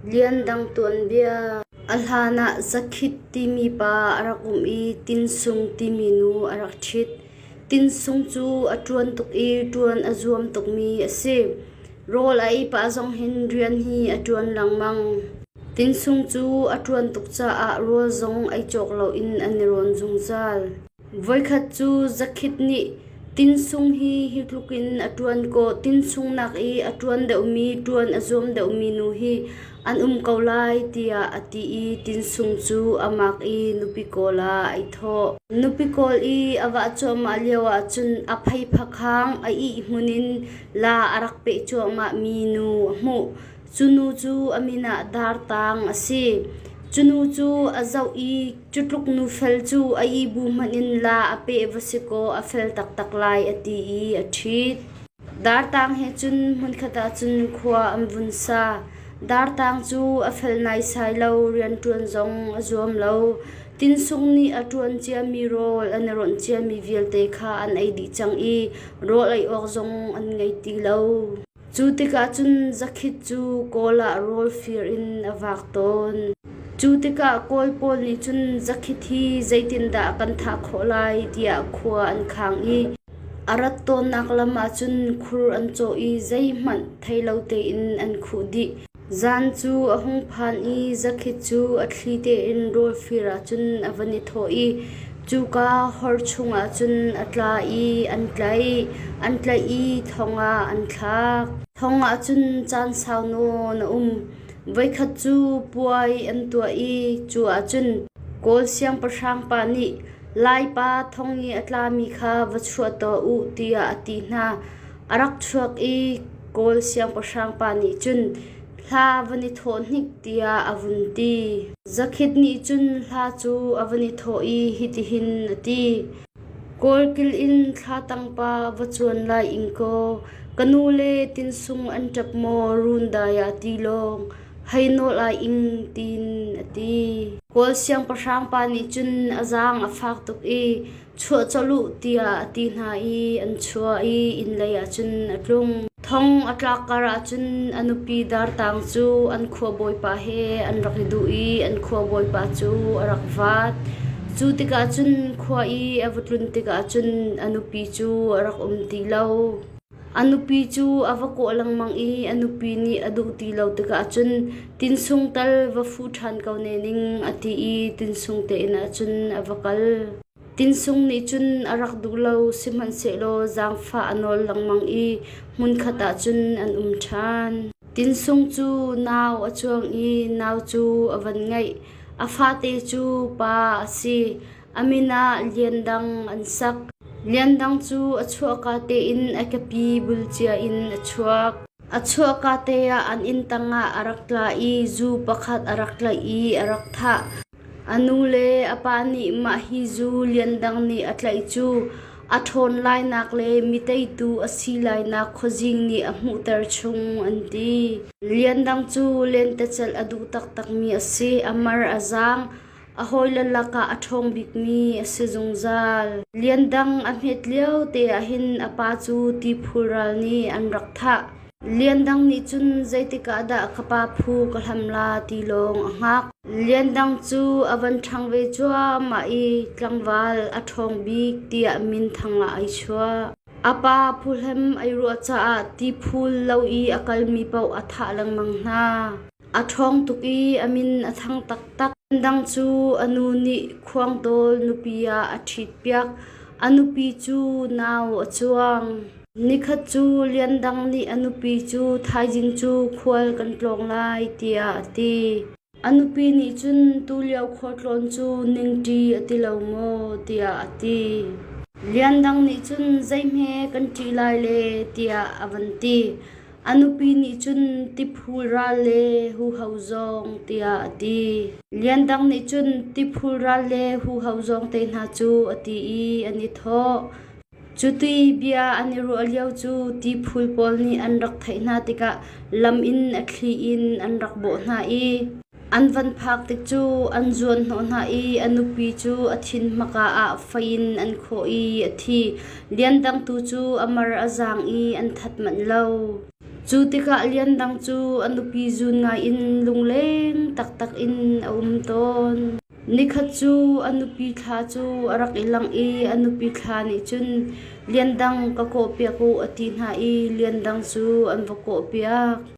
Liandang tuanbia A hlan ah Zakhit timi pa a rak um i Tinsung timi nu a rak ṭhit. Tinsung cu a ṭuan tuk i ṭuan a zuam tukmi a si. Rawl a ei pah zong hin rian hi a ṭuan lengmang. Tinsung cu a ṭuan tuk caah rawl zong ei cawk loin an i rawn zungzal. Voikhat cu zakhit nih tinsung hi hi tluk in a ṭuan kaw tinsung nak i a ṭuan deuhmi ṭuan a zuam deuhmi nu hi an um ko lai tiah a ti i tinsung cu a mak i nupi kawl ah ai thawh. Nupi kawl i a vah cuahmah lio ahcun a phei phakhang a ih hmun in la a rak peh cuahmahmi nu a hmuh. Cunu cu a min ah Dartang a si. Cunu cu a zoh i cutluk nufel cu a ibu hmanh in la a peh va si kaw a fel taktak lai a ti i a ṭhit. Dartang he cun hmunkhat ah cun khua an vun sa. Dartang cu a fel naisai lo, rianṭuan zong a zuam lo. Tinsung nih a ṭuan ciami rawl an i ronh ciami vialte kha an ei dih cang i rawl ei awk zong an ngei ti lo. Cu tikah cun zakhat cu kawl ah rawl fir in a vak tawn. Cu tikah kawl pawl nih cun zakhat hi zeitindah kan thah khawh lai tiah khua an khang i a rat tawnnak lam ahcun khur an cawh i zeihmanh thei lo tein an khuh dih. Zan cu a hung phan i zakhat cu a thli tein rawlfir ahcun a van i thawh i cuka hor chungah cun a tla i an tlaih. An tlaih i thong ah an thlak. Thong ah cun caan sau nawn a um. Voikhat cu puai an tuah i cu ah cun Kawl siangpahrang pa nih Laipa thong i a tlami kha va chuah tuah u tiah a ti hna. A rak chuak i Kawl siangpahrang pa nih cun hla van i thawh hnik tiah a vun ti. Zakhit nih cun hla cu a van i thawh i hitihin a ti: Kawlkil in thla tangpa va cuan lai ing kaw ka nu le tinsung an ṭap maw run dai ah ti lawng hei nawl ai ing tiin a ti. Kawl siangpahrang pa nih cun a zaang a fak tuk i chuah colh u tiah a ti hna i an chuah i inn lei ah cun a tlung. Thong a tlak kar ahcun a nupi dartang cu an khuabawipa he an rak i duh i an khuabawipa cu a rak vaat. Cu tikah cun khua i a va tlun tikah cun a nupi cu a rak um ti lo. A nupi cu a va kawh lengmang i a nupi nih a duh ti lo tikah cun tinsung tal va fu ṭhan ko ne ning a ti i tinsung tein ah cun a va kal. Tinsung nih cun a rak duh lo, sihmanhsehlaw zaangfah a nawl lengmang i hmunkhat ah cun an um ṭhan. Tinsung cu nau a cuang i nau cu a van ngaih. A fate cu pa a si. A min ah Lian Dang an sak. Lian Dang cu a chuahka tein a kepi bul cia in a chuak. A chuahka te ah an inn tangah a rak tla i zu pakhat a rak tlaih i a rak thah. A nu le a pa nih mah hi zu Lian Dang nih a tlaih cu a ṭhawn lainak le miteitu a si lainak khuazing nih a hmuhter chung an ti. Lian Dang cu lentecelh a duh taktakmi a si. A mar a zaang. A hawile lakah a ṭhawng bikmi a si zungzal. Lian Dang a hmet lio te ahhin a pa cu ti phul ral nih an rak thah. Lian Dang nih cun zeitikah dah ka pa phu ka hlam la ti lawng a hngak. Lian Dang cu a van ṭhang ve cuahmah i tlangval a ṭhawng bik tiah minthang lah ai chuah. A pa phuhlem ai ruah caah ti phul lo i a kalmi paoh a thah lengmang hna. A ṭhawng tuk i a min a thang taktak. Dang cu a nu nih khuangtawl nupi ah a ṭhitpiak. A nupi cu nau a cuang. Nikhat cu lian dang nih a nupi cu thaizing cu khual kan tlawng lai tiah a ti. A nupi nih cun tulio khualtlawn cu ningṭi a ti lo maw tiah a ti. Lian dang nih cun zeihme kan ṭih lai le tiah a van ti. A nupi nih cun tiphul ral le huho zong tiah a ti. Lian Dang nih cun tiphul ral le huho zong te hna cu a ti i an i thawh. Cuti bia an i ruah lio cu tiphul pawl nih an rak theih hna tikah lam in a thli in an rak bawh hna i An van phak tik cu an zuanhnawh hna i a nupi cu a thin hmaka ah fei in an khawh i a thi. Liandang tu cu a mar a zaang i an that manh lo. Cu tikah Liandang cu a nupi zun ngai in lungleng taktak in a um tawn. Nikhat cu a nupi thla cu a rak i langh i a nupi thla nih cun Liandang ka kawh piak u a ti hna i Liandang cu an va kawh piak.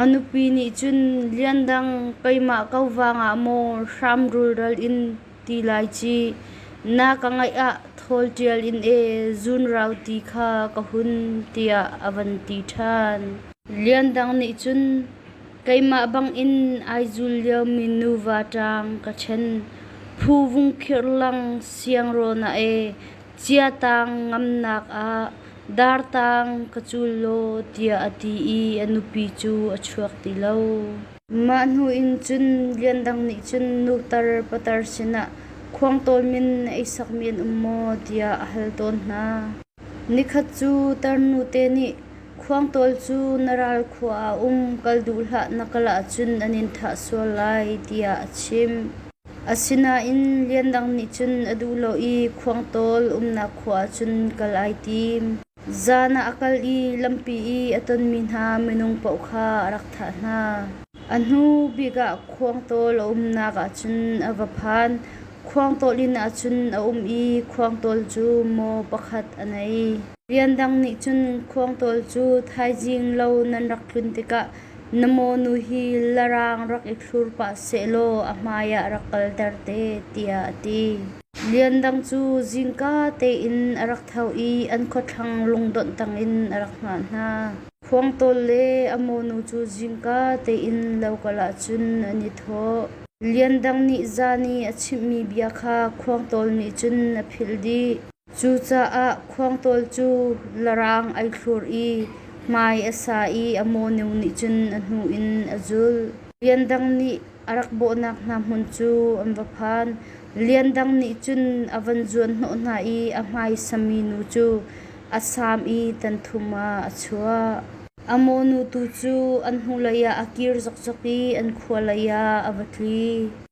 A nupi nih cun liandang keimah ko vangah maw hram rulral in ti lai ci, na ka ngaih ah thawl ṭial in ee zunrau ti kha ka hun tiah a van ti ṭhan. Liandang nih cun keimah bangin ai zul liomi nuva ṭang ka ṭhen, phu vung khirh lang siangraw na ee Ciatang ngamnak ah dartang ka cul law tiah a ti i a nupi cu a chuak ti lo. Mah hnu in cun Lian Dang nih cun nutar patar sinah khuangtawl min na ei sak men um maw tiah a hal tawn hna. Nikhat cu tarnute nih khuangtawl cu na ral khua ah um kal duh hlah na kal ahcun an in thah sual lai tiah a chimh. Asinain Liandang nih cun a duh lo i Khuangtawl umnak khua ah cun kal ai tim. Zan ah a kal i lampi i a tonmi hna minung paoh kha a rak thah hna. A hnu bik ah Khuangtawl a umnak ah cun a va phan. Khuangtawl inn ah cun a um i Khuangtawl cu maw pakhat a nei. Liandang nih cun Khuangtawl cu thaizing lo nan rak tlun tikah Na monu hi Larang rak i thlur pah sehlaw a hmaiah rak kalter te tiah a ti. Liandang cu zingka tein a rak tho i an khuathlang lungdonh tangin a rak hngah hna. Khuangtawl le a monu cu zingka tein lo kal ahcun an i thawh. Liandang nih zan i a chimhmi bia kha Khuangtawl nih cun a philh dih. Cucaah khuangtawl cu na raang ai thlur i hmai a sa i a mawnu nih cun a hnu in a zulh. Lian Dang nih a rak bawhnak hna hmun cu an va phan. Lian Dang nih cun a van zuanhnawh hna i a hmaisami nu cu a sam i tanthum ah a chuah. A mawnu tu cu an hnulei ah a kir zokzok i an khua lei ah a va tli.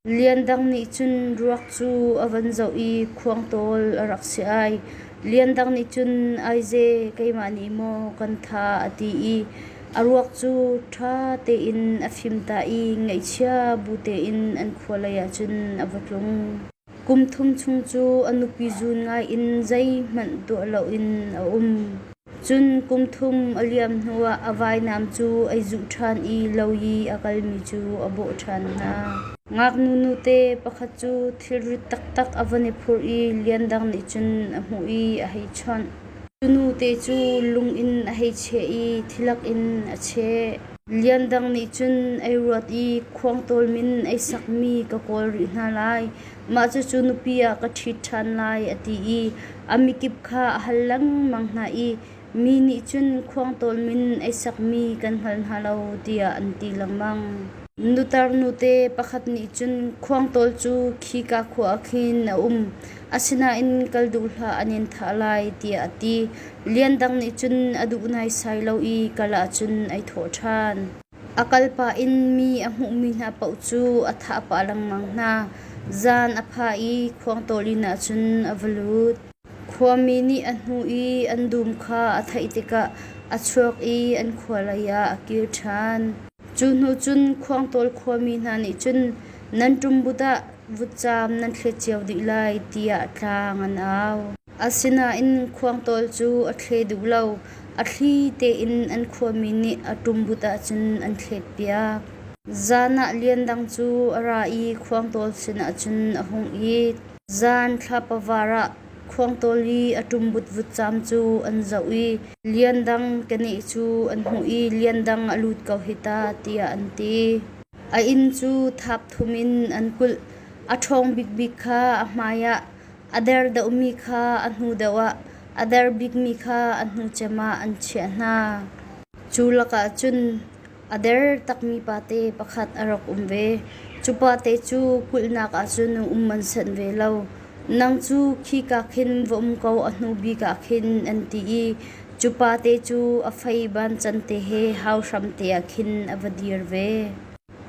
Lian Dang nih cun ruak cu a van zoh i khuangtawl a rak si ai. Lian Dang nih cun aize keimah nih maw kan tha a ti i a ruak cu ṭha tein a fim ta i ngaihchia bu tein an khua lei ahcun a va tlung. Kum thum chung cu a nupi zun ngai in zeihmanh tuah loin a um. Cun kum thum a liam hnuah a vainam cu ei zuh ṭhan i lo i a kalmi cu a bawh ṭhan hna. Ngaknu nute pakhat cu thilrit taktak a van i phurh i lian dang nih cun a hmuh i a hei chawnh. Cu nute cu lung in a hei cheh i thilak in a cheh. Lian dang nih cun ei ruat i khuang tawlmin ei sakmi ka kawl rih hna lai. mah cucu nupi ah ka ṭhit ṭhan lai a ti i a mikip kha a hal lengmang hna i mi nih cun khuangtawl min ei sakmi kan hngal hna lo tiah an ti lengmang. Nutar nute pakhat nih cun khuangtawl cu khika khua ah khin a um asinain kal duh hlah an in thah lai tiah a ti. Lian Dang nih cun a duh naisai lo i kal ahcun ei thawh ṭhan. A kal pah in mi a hmuhmi hna paoh cu a thah pah lengmang hna. Zan a phah i khuangtawl inn ah cun a va lut. Khuami nih a hnuh i an dum kha a theih tikah a chuak i an khua lei ah a kir ṭhan. Cu hnu cun khuangtawl khuami hna nih cun nan ṭumbut ah vutcaam nan thlet cio dih lai tiah tlang an au. Asinain khuangtawl cu a thle duh lo. A thli tein an khuami nih a ṭumbut ahcun an thletpiak. Zan ah lian dang cu a ra i khuangtawl sinah cun a hung it. Zan thlapa-var ah khuangtawl i a ṭumbut vutcam cu an zoh i lian dang keneh cu an hmuh i lian dang a lut ko hi ta tiah an ti. A inn cu thap thum in an kulh. A ṭhawng bikbik kha a hmaiah A der deuhmi kha a hnu deuh ah a der bikmi kha a hnu cem ah an chiah hna. Cu lakah cun a der takmi pate pakhat a rak um ve. Cu pate cu kulhnak ah cun um an sanh ve lo. Nang cu khika khin va um ko a hnu bik ah khin an ti i cu pate cu a fei ban can te he hau hram te ah khin a va dir ve.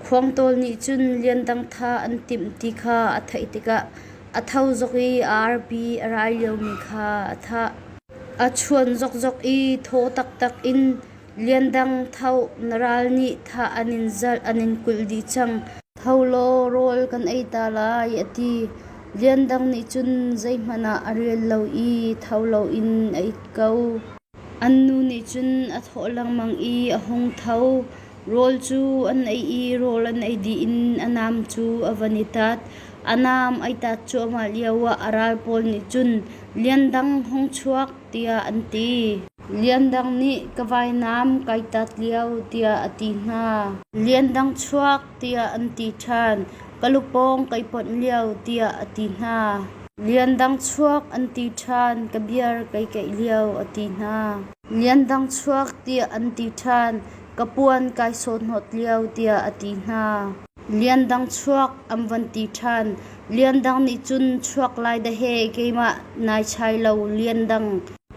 Khuangtawl nih cun liandang tha an timh ti kha a theih tikah a tho zok i a arpi a rai liomi kha a thah. A chuan zokzok i thaw taktak in liandang tho na ral nih thah an in zalh an in kulh dih cang. Tho law rawl kan ei ta lai a ti. Liandang nih cun zeihmanh ah a rel lo i tho loin a it ko. An nu nih cun a thawh lengmang i a hung tho. Rawl cu an ei i rawl an ei dih in a nam cu a van i tat. A nam ai tat cuahmah lioah a ral pawl nih cun Liandang hung chuak tiah an ti. Liandang nih ka vainam kai tat lio tiah a ti hna. Liandang chuak tiah an ti ṭhan. Ka lu pawng kai ponh lio tiah a ti hna. Liandang chuak an ti ṭhan. Ka biar kai keih lio a ti hna. Liandang chuak tiah an ti ṭhan. Ka puan kai sawhnawt lio tiah a ti hna. Liandang chuak an van ti ṭhan. Liandang nih cun chuak lai dah he keimah nai chai lo Liandang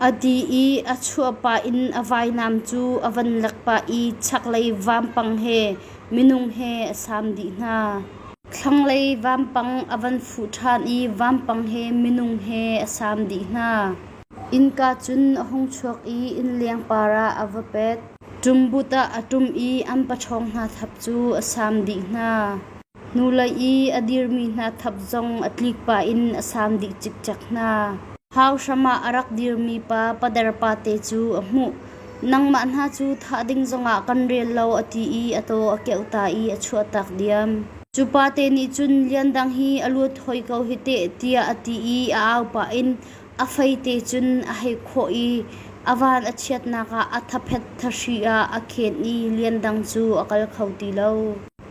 a ti i a chuah pah in a vainam cu a van lek pah i chaklei vampang he Minung he a sam dih hna. Thlanglei vampang a van fuh ṭhan i vampang he minung he a sam dih hna. Innka cun a hung chuak i inn lengpar ah a va pet. Ṭumbut ah a ṭum i an paṭhawng hna thap cu a sam dih hna. Hnulei i a dirmi hna thap zong a tlik pah in a sam dih cikcek hna. Hau hram ah a rak dirmi pa pader pate cu a hmuh. Nangmah hna cu thah ding zongah kan rel lo a ti i a taw a keuh ta i a chuah tak diam. Cu pate nih cun lian dang hi a luat hoi ko hi teh tiah a ti i a au pah in a feite cun a hei khawh i a van a chiatnak ah a thaphet thahri ah a khenh i lian dang cu a kal kho ti lo.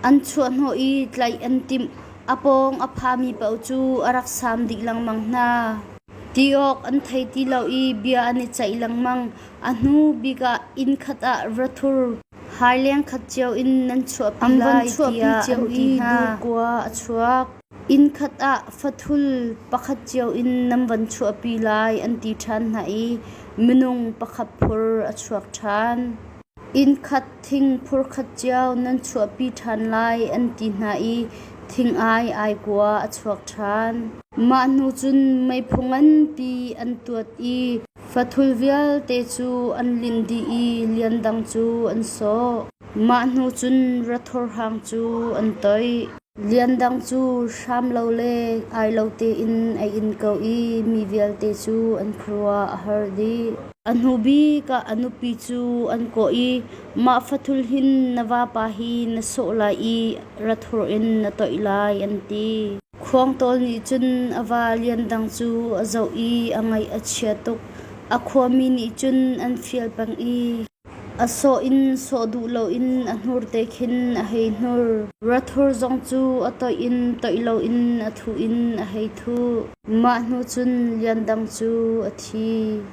An chuahhnawh i tlaih an timh. A pawng a phami paoh cu a rak sam dih lengmang hna. Ti awk an thei ti lo i bia an i ceih lengmang. A hnu bik ah inn khat ah rathur haileng khat cio in nan chuahpi lai tiah an ti hna. Dukua a chuak. Inn khat ah fathul pakhat cio in nan van chuahpi lai an ti ṭhan hna i minung pakhat phur a chuak ṭhan. Inn khat thing phurkhat cio nan chuahpi ṭhan lai an ti hna i thing ai aikua a chuak ṭhan. Mah hnu cun meiphu nganpi an tuat i fathul vialte cu an lin dih i lian dang cu an sawh. Mah hnu cun rathor hang cu an toih. Lian Dang cu hram lo le ai lo tein a in ko i mi vialte cu an khuaruah a har dih. A hnu bik ah a nupi cu an kawh i, Mah fathul hin na vapa hi na sawh lai i rathur in na toih lai, an ti. Khuang Tawl nih cun a va Lian Dang cu a zoh i a ngaih a chia tuk. A khuami nih cun an fial peng i, A sawh in sawh duh loin a hnur te khin a hei hnur, rathur zong cu a toih in toih loin a thuh in a hei thuh, mah hnu cun liandang cu a thi.